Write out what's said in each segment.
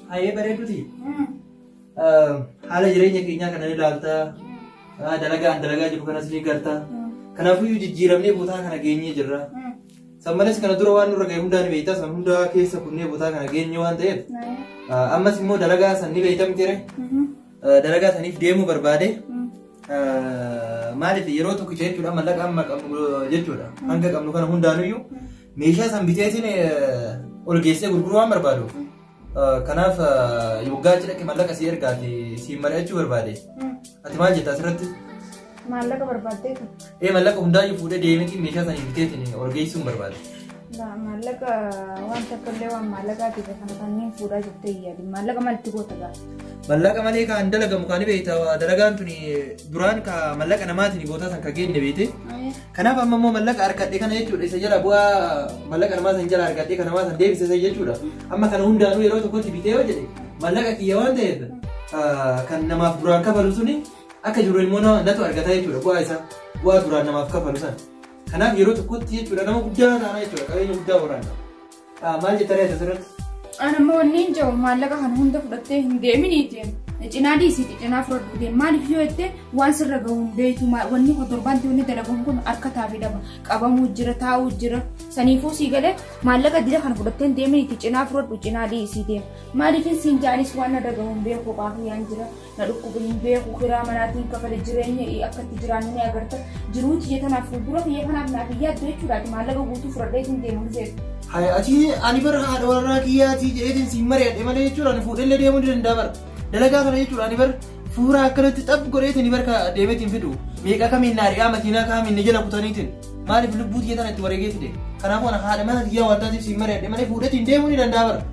Hayee bareeduti. Haala jireenya keenyaa kana ni ilaalta. Dalagaan dalagaa jiru kanas ni garta. Kanaafuu jijjiiramnee bootaa kana geenyee jirra. San malees kana dura waan nurra ga'e hundaa ni beekta. San hundaa keessa kunnee bootaa kana geenye waan ta'eef. Ammas immoo dalagaa san ni beekta miti ree. Dalagaa saniif deemuu barbaade. Maaliif yeroo tokkicha jechuudha mallaqa amma qabnu jechuudha. Hanga qabnu kana hundaanuyyuu meeshaa san biteetiin ol geessee gurguruu waan barbaaduuf kanaaf yoggaa achi dhaqe mallaqa sii ergaati siin mari'achuu barbaade ati maal jetta asirratti Maallaqa barbaaddee kan. ee mallaqa hundaayyuu fuudhee deemeetiin meeshaa sanii biteetiin ol geessuun barbaade Maallaqa waan takka illee waan maallaqaati kan kanneen fuudhaa jettee yaadi. Maallaqa maalti goota gaa? mallaqa malee kan dalagamu kan beekta dalagaan tuni duraan ka mallaqa namaatiin gootaa san ka geenne beekte Kanaaf amma immoo mallaqa argadhe kana jechuudha isa jala bu'aa mallaqa namaa san jala argadhe kana namaa san deebisisa jechuudha. Amma kana hundaanuu yeroo tokkotti bitee yoo jedhe mallaqa kiyya waan ta'eef ah, kan namaaf duraan kafalu suni akka jiru immoo na- natu argata jechuudha bu'aa isaa bu'aa duraan namaaf kafalu sana. Kanaaf yeroo tokkotti jechuudha nama guddaa taana jechuudha qabeenya guddaa waraana. Maal jetta reeta turetti? An ammoo wanni hin jiru maallaqa kana hunda fudhattee hin deeminiitiin. Cinaa dhiisiiti cinaa fudhadhu deem maaliif yoo jettee waan sirra gahu hin beektu wanni kun torbaanti wanni dalaguun kun akka taafii dhaba qabamuu jira taa'uu jira saniifuu sii galee maallaqa dira kana fudhattee hin deeminiitii cinaa fudhadhu cinaa dhiisiitiin maaliif hin siin jaanis waan na dhagahu hin beeku qaafuu yaan jira. na dhukkube hin beeku kiraa manaatiin kafale jireenya akka itti jiraannu ni agarta jiruu tiyya tanaaf fuuldura kiyya kanaaf naaf hin yaaddu jechuudhaati maallaqa guutuu fudhadhee isin deemu dhufeef. Haya ati ani bara haadha warraa kiyyaatii jedheetiin siin mari'adhe malee jechuudha ani fuudhee illee deemuu ni danda'a bara dalagaa kana jechuudha ani bara fuuraa akkanatti xab godheetiin bara deemeetiin fidu meeqa kamiin naari'aa makiinaa kaamiin ni jala kutaniitiin maaliif lubbuu tiyya tana itti wareegeetti deema kanaafuu ana haadha mana kiyyaa waan taateef siin mari'adhe malee fuudheetiin deemuu ni danda'a bara.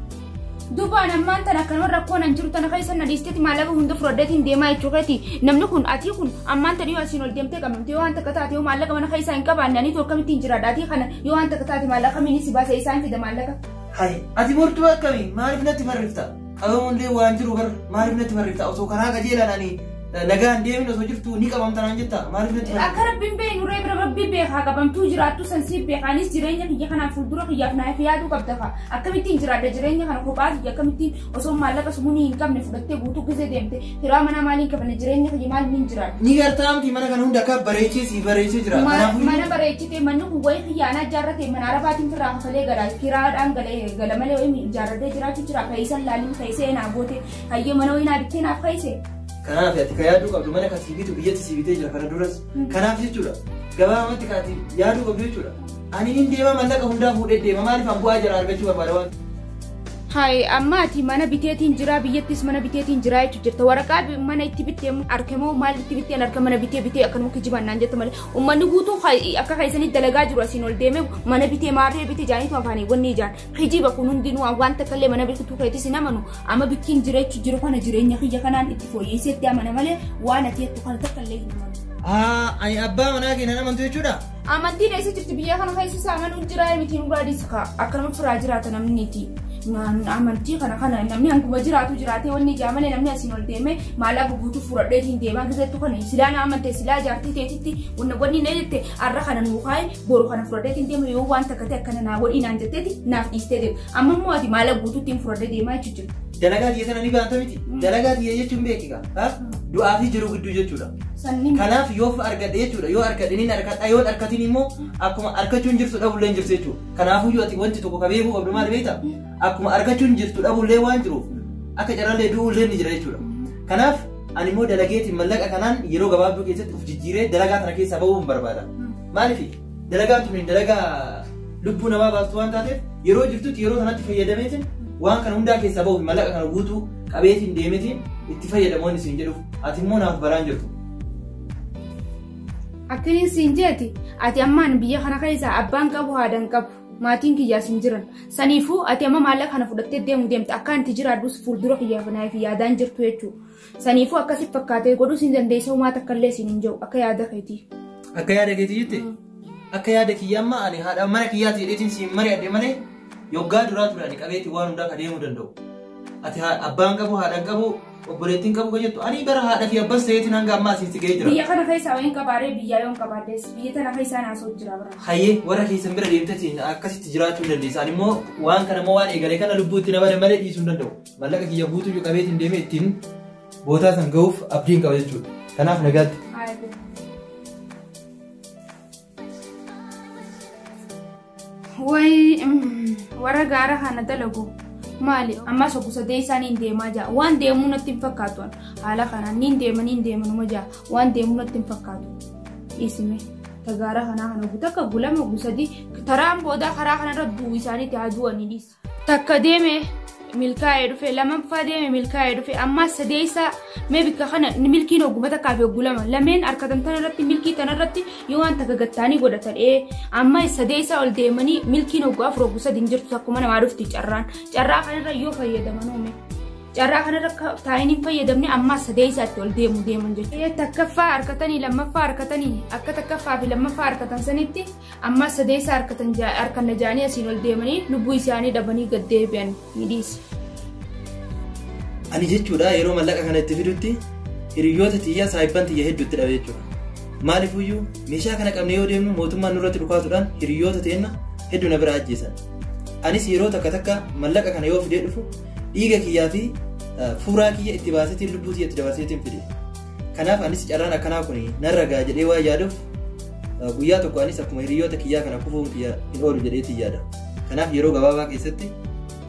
Dubaan ammaan tana akkanuma rakkoo nan jiru tana keessa na dhiisteeti maallaqa hunda fudhadheetiin deemaa jechuu keeti. Namni kun atii kun ammaan tana yoo asiin ol deemtee qabamte yoo waan takka taate yoo maallaqa mana keessaa hin qabaanne aniitu akkamittiin jiraadha atii kana yoo waan takka taate maallaqa miini si baasa isaan fida maallaqa. Hai, ati murtuu akkamii maaliif natti barrifta? Qabamuun illee waan jiru bar maaliif natti barrifta? Osoo karaa qajeelaan ani Nagaan deemin osoo jirtu ni qabamta naan jetta maaliif natti himta? Akka rabbiin beeku nurree bira rabbii beekaa qabamtuu jiraattu san siif beekaa anis jireenya kiyya kanaan fuuldura kiyyaaf naaf yaaduu qabda fa'a. Akkamittiin jiraadha jireenya kana kophaa kiyya akkamittiin osoo maallaqa sumunii hin qabne fudhattee guutuu gizee deemte firaa manaa maaliin qabne jireenya kiyya maal hin jiraadha. Ni gartaa miti mana kana hunda akka bareechee si bareechee jira. Ma- Kanaafuu mana bareechite manni kun wayii kiyyaanaa ijaarrate mana arabaatiin firraa kafalee galaa kiraadhaan galee gala malee wayii ijaarratee jiraachuu jira fayisan laaliin fayisee naa goote hayyee mana wayii naa bittee naaf fayise Kanaaf ati ka yaaduu qabdu mana ka sii bitu biyyatti sii bitee jira kana duras. Kanaaf jechuudha. Gabaabamatti ka ati yaaduu qabdu jechuudha. Ani hin deema mallaqa hundaa fuudhee deema maaliif an bu'aa jala argachuu barbaada waan. Hayi amma ati mana biteetiin jira biyyattis mana biteetiin jira jechu jirta waraqaa bi- mana itti bittee arke moo maal itti bittee arke mana bittee bittee akkanuma kijibaan naan jette malee ummanni guutuu ka- akka keessanitti dalagaa jiru asiin ol deemee mana bitee maarree bitee jaaniitu afaanii wanni ijaan Kijiba kun hundinuu an waan takka illee mana biqiltuu keetis hin amanu amma bikkiin jireechu jiru kana jireenya kiyya kanaan itti fooyyeessee itti amana malee waan ati jettu kana takka illee hin amanu. Aa, ani abbaa manaa kee nan amantu jechuudha. Amantiin eessa jirti biyya kana keessa isaa amanuun jiraa miti nu baadis kaa akkanuma firaa jiraata namniti. Amantii kana kana namni hanguma jiraatu jiraatee wanni ijaa malee namni asiin ol deemee maallaqa guutuu fuudhadhee ittiin deemaa keessattuu kana silaa na amante silaa jaartii teetitti wanna wanni na jette har'a kana nuu kaa'e boru kana fudhadhee hin deemu yoo waan takka ta'e akkana naa godhii naan jetteeti naaf dhiistee deemu amma immoo ati maala guutuutti hin fudhadhee deemaa jechuun jiru. Dalagaa kiyya sana ni baanta miti. Mm. Dalagaa kiyya jechuun beekiga. Du'aa fi jiruu gidduu jechuudha. Sanni Kanaaf yoo argadhe jechuudha yoo argadhe ni argadha yoo argatin immoo akkuma argachuun jirtu dhabullee hin jirtu jechuudha. Kanaafuu yoo ati wanti tokko ka beekuu qabdu maal beekta? Akkuma argachuun jirtu dhabullee waan jiruuf akka carrallee du'ullee ni jira jechuudha. Kanaaf ani immoo dalageetiin mallaqa kanaan yeroo gabaabduu keessatti of jijjiiree dalagaa kana keessaa ba'uu hin barbaada. Maalifi? Dalagaan tuni dalagaa lubbuu namaa baastu waan taateef yeroo jirtutti yeroo sanatti fayyadameetiin waan kana hundaa keessaa bahuuf mallaqa kana guutuu qabeetiin deemetiin itti fayyadamoonni siin jedhuuf ati immoo naaf baraan jirtu. Akkaniin siin jeeti ati ammaan biyya kana keessaa abbaan qabu haadaan qabu maatiin kiyyaas hin jiran saniifuu ati amma maallaqa kana fudhattee deemu deemta akkaan itti jiraadhus fuuldura kiyyaaf naaf yaadaan jirtu jechuudha. Saniifuu akkasitti fakkaatee godhuu siin dandeessa uumaa takka illee siin hin jiru akka yaada keetii. Akka yaada keetii jette? Akka yaada kiyyaa amma ani haadha mana kiyyaati jedheetiin siin mari'adhe malee yoggaa duraa ture ani qabeetii waan hundaa ka deemuu danda'u. Ati haa- abbaan qabu haadhaan qabu obboleettiin qabu ka jettu ani bara haadha fi abbas ta'eetiin hanga ammaa asitti ga'ee jira. Biyya kana keessaa waan qabaaree biyyaa yoon qabaaddees biyya tana keessaa naasoo jira bara. Hayyee warra keessan bira deemtetiin akkasitti jiraachuu dandeessa. Ani immoo waan kana immoo waan eegale kana lubbuutti na bada malee dhiisuu hin danda'u. Mallaqa kiyya guutuu iyyuu qabeetiin deemee ittiin bootaa san gahuuf abdiin qaba jechuudha. Kanaaf nagaatti. Wayi warra gaara kana dalagu maali ammas obbo sadee isaaniin deemaa jira waan deemuu natti hin fakkaatu haala kanaan niin deema niin deema numa jira waan deemuu natti hin fakkaatu dhiisime ta gaara kanaa kana guutuu akka gulama obbo sadii taraan boodaa karaa kanarra du'u isaaniitti haa du'anii dhiisa. Takka deeme milkaa'ee dhufe lammaffaa deeme milkaa'ee dhufe ammaa sadeessaa mee bikka kana milkiin hogguma takkaa fi hoggu lama lameen harkatan tana irratti milkii tana irratti yoo waan takka gattaanii godhatan ee amma sadeessaa ol deemanii milkiin hoggu afur hoggu sadi hin jirtu akkuma namaa dhufti carraan carraa kanarra yoo fayyadaman uume. Carraa kanarra taa'in hin fayyadamne ammaa sadeessaatti ol deemu deeman jechuudha. Takkaffaa harkatanii lammaffaa harkatanii akka takkaffaa fi lammaffaa harkatan sanitti Ammas sadeessaa harkatan jaa- harkanna jaanii asiin ol deemanii lubbuu isaanii dhabanii gad deebi'an ni dhiise. Ani jechuudha yeroo mallaqa kana itti fidutti hiriyoota tiyya saahibban tiyya hedduu itti dhabe jechuudha. Maaliifuyyuu meeshaa kana qabnee yoo deemnu mootummaan nurratti dhukaasuudhaan hiriyoota teenna hedduu na bira ajjeesan. Anis yeroo takka takka mallaqa kana yoo fidee dhufu dhiiga kiyyaa fi eh, fuuraa kiyya itti baaseetiin lubbuu tiyya itti dabarseetiin fide. Kanaaf anis carraan akkanaa kun narra ga'a jedhee waan yaaduuf guyyaa tokko anis akkuma hiriyoota kiyyaa kana kufuun kiyya hin oolu jedheetiin yaada. Kanaaf yeroo gabaabaa keessatti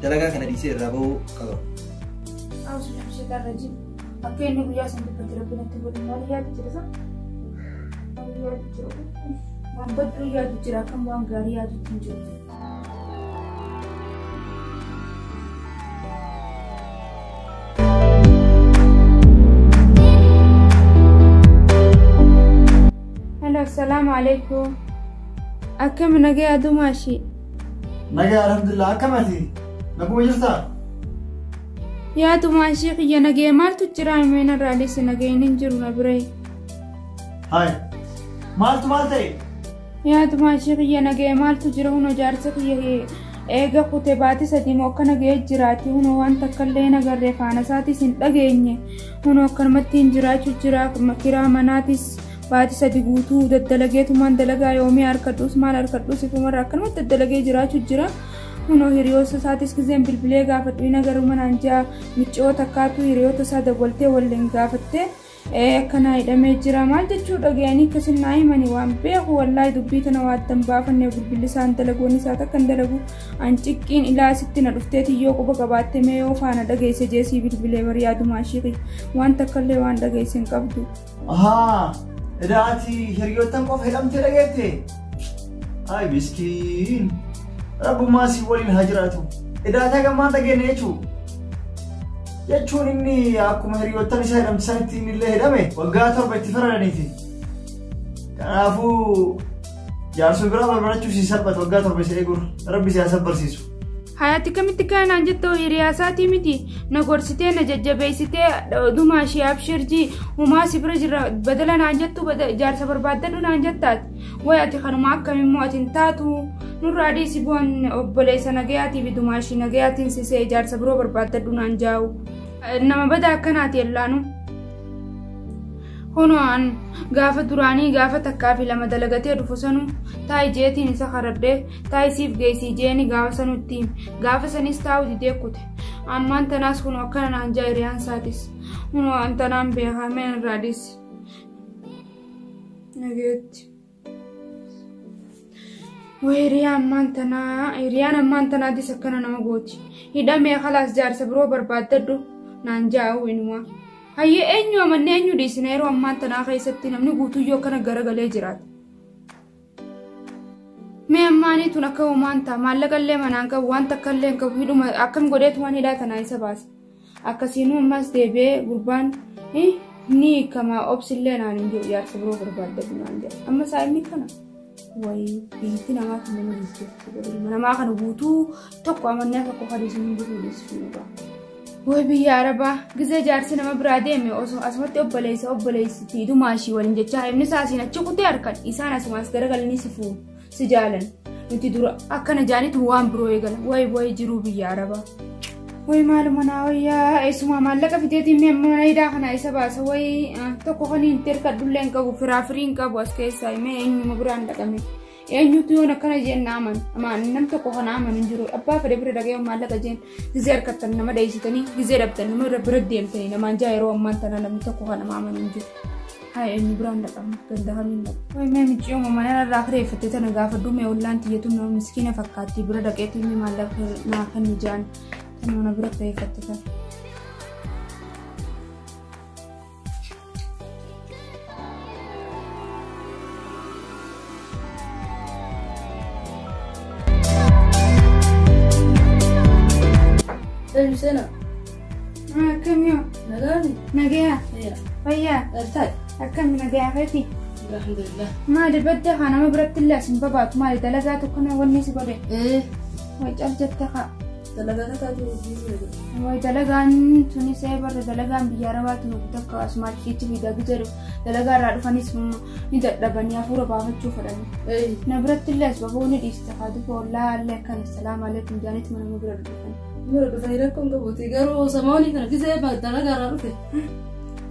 dalagaa kana dhiisee irraa bahuu qaba. Akka inni guyyaa san dubbatti rabbi natti godhu maal yaadu jira sa? Maal yaadu jira? Waan badduu yaadu jira akkam waan gaarii yaadu hin jiru. Hello, assalamu alaikum. Akkam nagee adumaa ishii. Nagaa alhamdulillah akkamati naguma jirtaa? Yaa tumaa ishii kiyya nagee maaltu jira himeen irraalis nageen hin jiru na biree. Haay maaltu maal ta'e? Yaa tumaashii kiyya nagaya maaltu jira huno jaarsa kiyya hee eega kute baati sadii moo akkana ga'ee jiraati huno waan takkallee hin agarre faana isaatis hin dhageenye huno akkanumatti hin jiraachu jira kiraa manaatis baati sadi guutuu daddalageetumaan dalagaa yoomii harkadhuus maal harkadhuus ifumarra akkanumatti daddalagee jiraachu jira huno hiriyoota isaatis gizeen bilbilee gaafadhu hin agarru manaan jaa miccoo takkaatu hiriyoota isaa dawwaltee waliin gaafattee ee akkanaa hidhamee jira maal jechuu dhagayanii akkasin naa himani waan beeku wallaahi dubbii tana waa addan baafanne bilbilisaan dalagoon isaa takka hin dalagu an ciqqiin ilaa sitti na dhufteeti yoo quba qabaatte mee yoo faana dhageesse jeesii bilbilee bari yaadumaa shiiqi waan takkallee waan dhageesse hin qabdu. Ahaa, edaa ati hiriyoottan qofa hidhamtee dhageette? Ay miskiin, rabbumaa si waliin haa jiraatu. Edaa taa gammaan dhageenne jechuudha. jechuun inni akkuma hiriyoottan isaa hidhamte sanitti inni illee hidhame waggaa torba itti faradaniiti. Kanaafuu jaarsuma biraa barbarachuuf si salphata waggaa torba isa eeguun rabbi si haa sabbarsiisu. Hayaati kamitti kaanaan jettoo hiriyaa isaatii miti na gorsitee na jajjabeessitee odumaa ishee abshirjii humaa si bira jirra badala naan jettu jaarsa barbaaddadhu naan jettaati. Way ati kanuma akkam immoo ati hin taatu nurraa dhiisi bu'an obboleessa nagayaatii fi dumaashii nagayaatiin sisee ijaarsa biroo barbaaddadhu naan jaa'u. Nama badaa akkanaati yellaanu. Hono'aan gaafa duraanii gaafa takkaa fi lama dalagatee dhufu sanu taa'i jeetiin isa karadhee taa'i siif geessii jeeni gaafa sanutti gaafa sanis taa'u didee kute. Ammaan tanaas kun akkana naan ja'a hiriyaan isaatis. Hono'aan tanaan beekamee irraa dhiisi. Nageetti. Way hiriyaan ammaan tanaa hiriyaan ammaan tanaatis akkana nama gooti. Hidhamee kalaas jaarsa biroo barbaaddadhu naan jaa'u inuma. Hayyee eenyu amanne eenyu dhiisina yeroo ammaan tanaa keessatti namni guutuyyoo akkana garagalee jiraata. Mee ammaanii tun akka uumaan ta'a maallaqallee manaan qabu waan takkallee hin qabu hidhuma akkam godheetumaan hidhaa tanaa isa baasa. Akkasiinuu ammas deebi'ee gurbaan ni hiikama obsillee naan hin jiru jaarsa biroo barbaadadhu naan jedha. Amma isaa inni kana wayii biyyatti namaa kan nama jijjiirtu godhe ilma namaa kana guutuu tokko amannee akka qofa dhiisuu hin jiru dhiisuu hin jiru. Wayii biyya arabaa gizee jaarsi nama biraa deeme osoo asumatti obboleessa obboleessi fi dumaa ishii waliin jechaa himni isaa asiin achi kutee harkan isaan asumaas garagalanii si fuudhu. si jaalan nuti dura akkana jaanitu waan biroo eegala way way jiruu biyya arabaa way maaluma naa wayyaa eessumaa maallaqa fiteetiin mee amma mana hidhaa kana isa baasa way ah, tokko kan hin terkadhullee hin qabu firaa firii hin qabu as keessaa mee eenyuma biraan dhaqame eenyutu yoon akkana jeen na aman amaan nam tokko kana amanu hin jiru abbaa fedhe bira dhaqee maallaqa jeen Gizee harkattan nama dheessitanii gizee dhabdan nama irra bira deemtanii namaan jaa yeroo ammaan tana namni tokko kan nama amanu hin jiru. Haa eenyu biraan dhaqamu ganda hamiin dhaqa. Wayi mee micii uumamaa yana irraa kireeffattee tana gaafa duumee ollaan tiyyatu nama miskiina fakkaatti bira dhaqeetti inni maallaqa naa kan ijaan kan mana bira kireeffatte tana. Eenyu seena? Akkamiyoo Nagaani? nagayaa Eeya. fayyaa Dhaltaadha. akkami nagayaa feeti Alhamdulillah. maali badda haa nama biratti illee asin babaatu maali dalagaa tokko na wanni si godhe Ee. wacal jette kaa Dalagaan akka aduu hojii sana godhe. Wayi dalagaan tunis ee barra dalagaan biyya arabaatti nuuf takka asumaa kiichi fi dagi jedhu dalagaa irraa dhufanis mm, ni dadhabanii hafuura baafachuu fedhani. Eeyi. Na biratti illee asbaboo ni dhiista haati koo ollaa illee akkana salaam aleekum jaanitti mana nu bira dhufan. Yeroo dhufanii rakkoon qabuuti garuu samoonii kana gisee dalagaa irraa dhufe.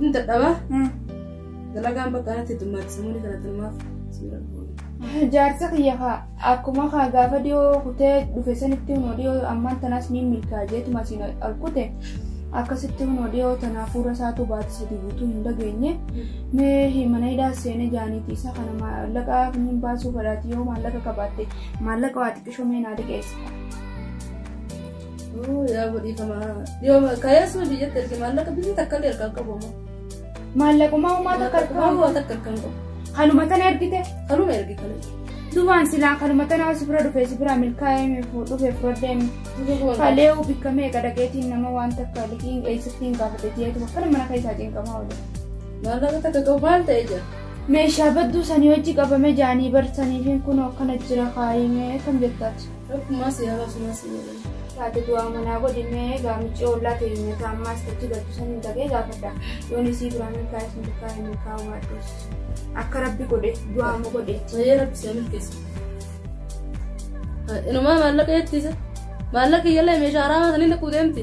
Inni dadhabaa. Dalagaan bakka kanatti heddummaatti samuun kadhatanumaaf siira goone. Jaarsa kiyya kaa akkuma kaa gaafa dhiyoo kutee dhufe sanitti hunoo dhiyoo ammaan tanaas ni milkaa jeetuma siin ol kute akkasitti hunoo dhiyoo tanaaf fuula isaatu baate sadii guutuu hin dhageenye mee mana hidhaa seenee jaaniiti isa kana maallaqa kunniin baasuu fedhaati yoo maallaqa qabaatte maallaqa waa xiqqisho mee naa dhiqeessa. Yaa godhiifama. Dhiyoo kaayesuu biyyatti erge maallaqa biyyatti akka illee ergaa qabu ammoo. Maallaqumaa uumaa takka Akkuma argaa. takka akkan qabu. Kanuma tana ergite. Kanuma ergi kanuma. Dubaan silaa kanuma tanaa si bira dhufee si bira milkaa'ee mi fuu dhufee fudhadhee mi. Kalee uu bikka meeqa dhaqeetiin nama waan takka liqiin eessatti hin gaafate jeetu akkana mana keessaa cinqamaa oolu. Maallaqa takka qabu maal ta'e jira? Meeshaa badduu sanii hojii qabame jaanii barsaniifiin kun akkana jira kaayimee kan jettaati. Akkuma si haala suma si jedhe. taate du'aa manaa godhi mee egaa miccee ollaa teenya taammaas tachi galtu san hin tagee gaafadha yoon isii biraa milkaa'es milkaa'e milkaa'u baadhus akka rabbi godhe du'aa ma godhe Sayyee rabbi seenuu keessa. Inumaa maallaqa jettiisa. Maallaqa iyyallee meeshaa araamaa saniin dhaqquu deemti.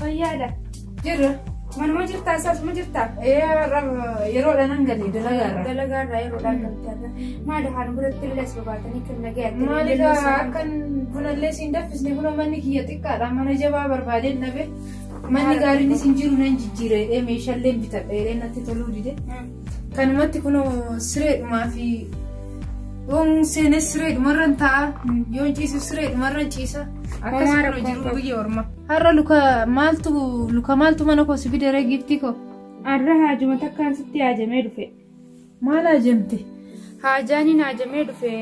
Fayyaadha. Jirra. Manuma jirtaa isaas ma jirtaa? Ee har'a yeroodhaan an galee dalagaarra. Dalagaa irraa yeroodhaan galtee irra. Maali haala biratti illee as babaatanii kan nagaya ta'e. Maali Illee isaa gaa akkan bunallee siin daffisne buna manni kiyya xiqqaadha mana jabaa barbaadeen dhabe. Manni gaariin isin jiru nan jijjiireedhee meeshaallee bitadheedhee natti toluu dide. Hmm. Kanumatti kunoo sireedhumaa fi yoon seenes sireedhumarran taa'a yoon ciisu sireedhumarran ciisa. Akkas Homaa kunoo rakkoon jiru qabu. biyya ormaa. Har'a luka maaltu luka maaltu mana koo si fidere giiftii koo? Har'a haajuma takkaan sitti haajamee dhufe. Maal haajamte? Haajaaniin haajamee dhufe.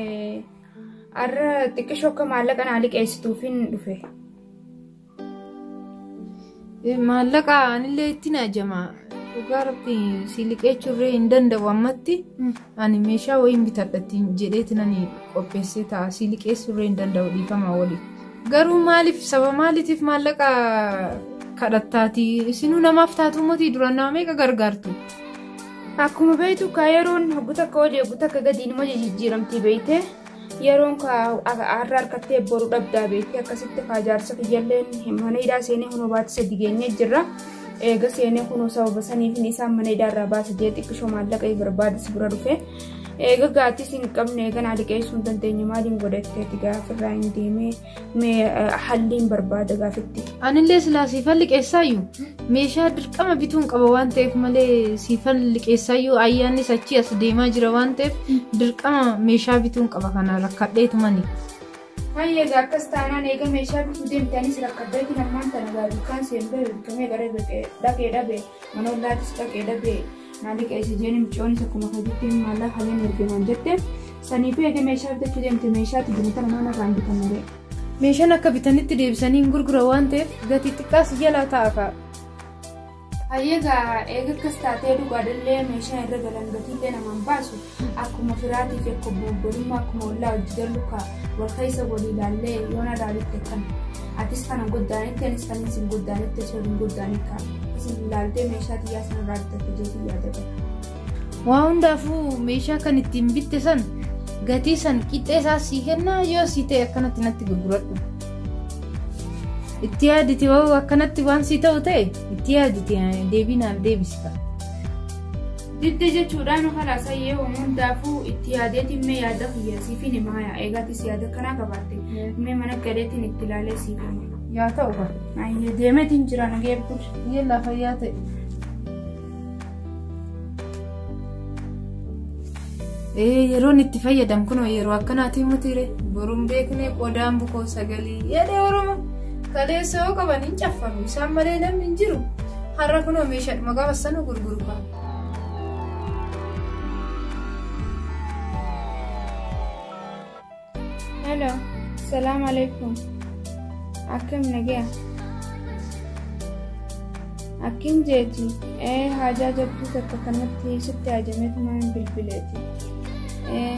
Har'a xiqqishoo akka maallaqa naa liqeessituufin dhufe. Maallaqa anillee ittiin haajama. Dhugaa rabbi si liqeechuu irree hin danda'u ammatti. Ani meeshaa wayiin bitadha ittiin jedheetinani qopheessee ta'a sii liqeessuu irree hin danda'u dhiifamaa waliif. Garuu maaliif saba maaliitiif maallaqa kadhattaati isinuu namaaf taatuu motii duraan nama meeqa gargaartu. Akkuma beektu kaa yeroon hoggu takka olii hoggu takka gadi inuma jijjiiramti beektee. yeroon kaa har'a harkattee boru dhabdaa beektee akkasitti kaa jaarsa kiyyalleen mana hidhaa seenee kunoo baati sadi geenyee jirra. Eega seenee kunoo sababa saniifin isaan mana hidhaa irraa baasa jee xiqqisho maallaqa barbaadis bira dhufe. Eega gaatis hin qabne eega naa liqeessuu hin dandeenye maaliin godhatteeti gaafirraa hin deemee. Mee eh, halliin barbaada gaafitti. Anillee silaa siifan liqeessaayyuu meeshaa dirqama bituun qaba waan ta'eef malee siifan liqeessaayyuu ayyaannis achii as deemaa jira waan ta'eef dirqama meeshaa bituun qaba kana rakkadheetumani. Hayyee egaa akkas taanaan eega meeshaa bituu deemtanii si rakkaddeetti namaan tana gaa dukkaan seen ba'e bitamee gara dhaqee dhabe manoon laatis dhaqee dhabe Naali qeessi jeeni micooni takkuma hojitti maallaa haleen ergemaan jette saniifu eegee meeshaa bitachuu deemte meeshaatti binata namaan irraa hin bitamne. Meeshaan akka bitanitti deebisanii hin gurgura waan ta'eef gatii xiqqaas jalaa ta'a ka'a. Hayyeegaa eega akkas taatee dhugaadhallee meeshaa irra galan gatiillee namaan baasu. akkuma firaatii fi akkuma obbolummaa akkuma ollaa wajji jallu kaa wal keessa walii ilaallee yoo na ilaalitte kan atis kana goddaanitti anis kan isin goddaanitti osoo hin goddaanii kaa isin ilaaltee meeshaa xiyyaa sana irraa bitatte jeetii yaadata. Waa hundaafuu meeshaa kan ittiin bitte san gatii san qixxee isaa sii kennaa yoo sii ta'e akkanatti natti gurguradhu. Itti yaadite hoo akkanatti waan sii ta'u ta'e itti yaadite deebii naaf deebisita. Didde jechuudhaan ofalaa sayyee waan hundaafuu itti yaadeetiin mee yaada kiyya siifin himaaya eegaatis yaada kanaa qabaatte mee mana galeetiin itti ilaalee siif hima. Yaa ta'u kan. Ayyee deemeetiin jira nagee bulcha. Biyya lafa yaa ta'e. Ee yeroon itti fayyadamu kun yeroo akkanaatiin mutiire boruun beeknee qodaan bukoo sagalii yaada oromoo. Kaleessa yoo qaban hin caffaru. Isaan malee namni hin jiru. Har'a kunoo meeshaadhuma gaafa sana gurguru kaa. Hello, salaam alaikum. Akkam nagaya? Akkin jeeti, ee haajaa jabduu takka kanatti sitti haajametu maan bilbileeti. Ee,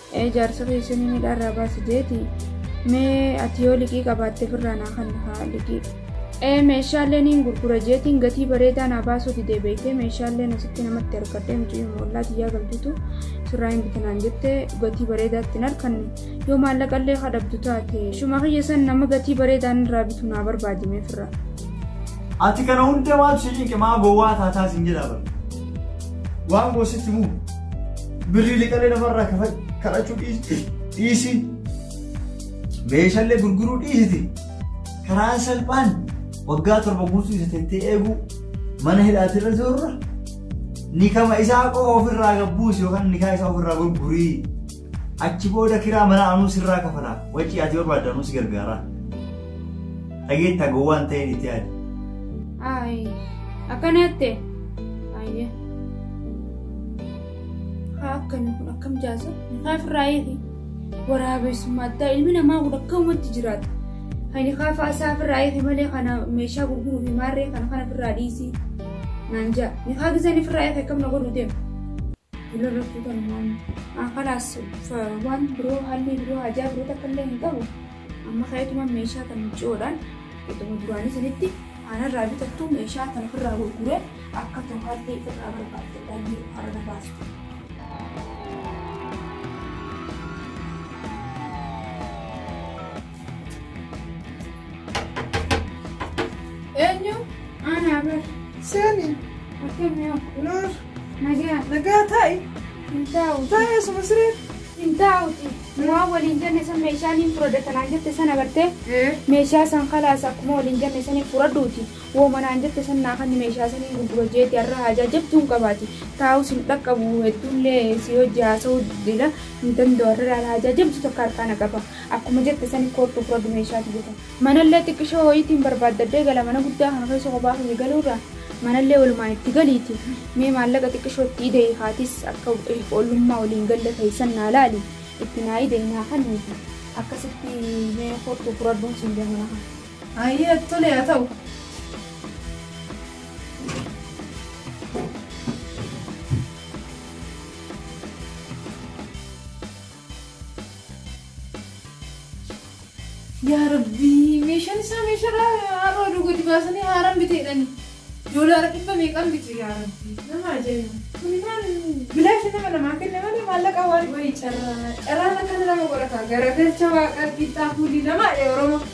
ee jaarsa kee isin inni dharraa baasi jeeti mee ati yoo liqii qabaatte firraa naa kan haa liqii ee meeshaalee niin gurgura jeetiin gatii bareedaa naa baasuu didee beektee meeshaalee asitti namatti argadhee mucayyoo moollaa tiyyaa galtutu sirraa hin bitinaan jettee gatii bareedaatti hin arkanne yoo maallaqallee kadhabdu taate shuma kiyya san nama gatii bareedaan irraa bitu naa barbaadimee firraa. Ati kana hunda maaltu si cinqe maa gowwaa taataa sin jedhaa bara. Waan goositti muu. Birrii liqalee namarraa kafa- kadhachuu dhiisi. dhiisi. Meeshallee gurguruu dhiisiti. Karaa salphaan waggaa torba guutuu isa teettee eeguu mana hidhaatirra jirurra nikama isaa qofa ofirraa gabbuusi yookaan nikaa isaa ofirraa gurgurii. Achi booda kiraa mana anuu sirraa kafala. Wacii ati barbaadde anuu si gargaara. Dhageettaa gowwaa hin ta'in itti yaadi. Ayi. Akkana jette. Ayyee. Haa akkami kun akkam jaasa? Haa firraa eegi. Waraabessummaa addaa ilmi namaa kun akkamumatti jiraata. Ani haa faasaa firraa eegi malee kana meeshaa gurguruu fi maarree kana kana firraa dhiisii. Naan ja'a. Ni haa gisanii firraa eegi akkam na godhu deema. Jula irratti kan waan kalaas waan biroo haalli biroo hajaa biroo takka illee hin qabu. Amma ka'eetuma meeshaa kan miicoodhaan iddoo duraanii sanitti aanarraa bitattu meeshaa kan ofirraa gurguree akka to'aatti irraa barbaadde dhalli harana baastu. Eenyu? Aanaa bar. Seeni. Akkamiin? Noor. Nagaa. Nagaa taa'i. Hin taa'u. Taa'i asuma siree. Hin taa'uti. Waan waliin jenne san meeshaa niin furadha tanaan jette sana bartee. Meeshaa san kalaas akkuma waliin jenne saniin furadhuuti. Woo manaan jette san naa kanni meeshaa saniin gurgura jeeti har'a haajaa jabtuu hin qabaati. Taa'us hin dhaqqabu hedduullee si hojii haasa'uu diddeedha. Hin danda'u har'a haajaa jabdu tokko harkaa na qaba. Akkuma jette saniin koottu furadhu meeshaati jette. Manallee xiqqishoo woyiitiin barbaaddadhee gala, mana guddaa kana keessa kophaa kiyya galuurra manallee wolumaan itti galiitii mee maallaqa xiqqishoo itti ide'i ka atis akka ilf ollummaa woliin galle keessan naa laali itti naa ide'i naa kanniiti akkasitti mee kottu furadhuun siin jedha mana kana. Hayyee tole haa ta'u. Yaa rabbii meeshaan isaa meeshaadha har'a oduu gadi baasanii haaraan biteedhani. Doolaara dhibba meeqaan bitu yaa rabbii. Nama ajaa'iba. Kuni maal bilaashi nama namaa kenna malee maallaqa waan wayii carraa carraan akkana nama godhata garagalcha waaqa qixxaa fuulli namaa oromoo.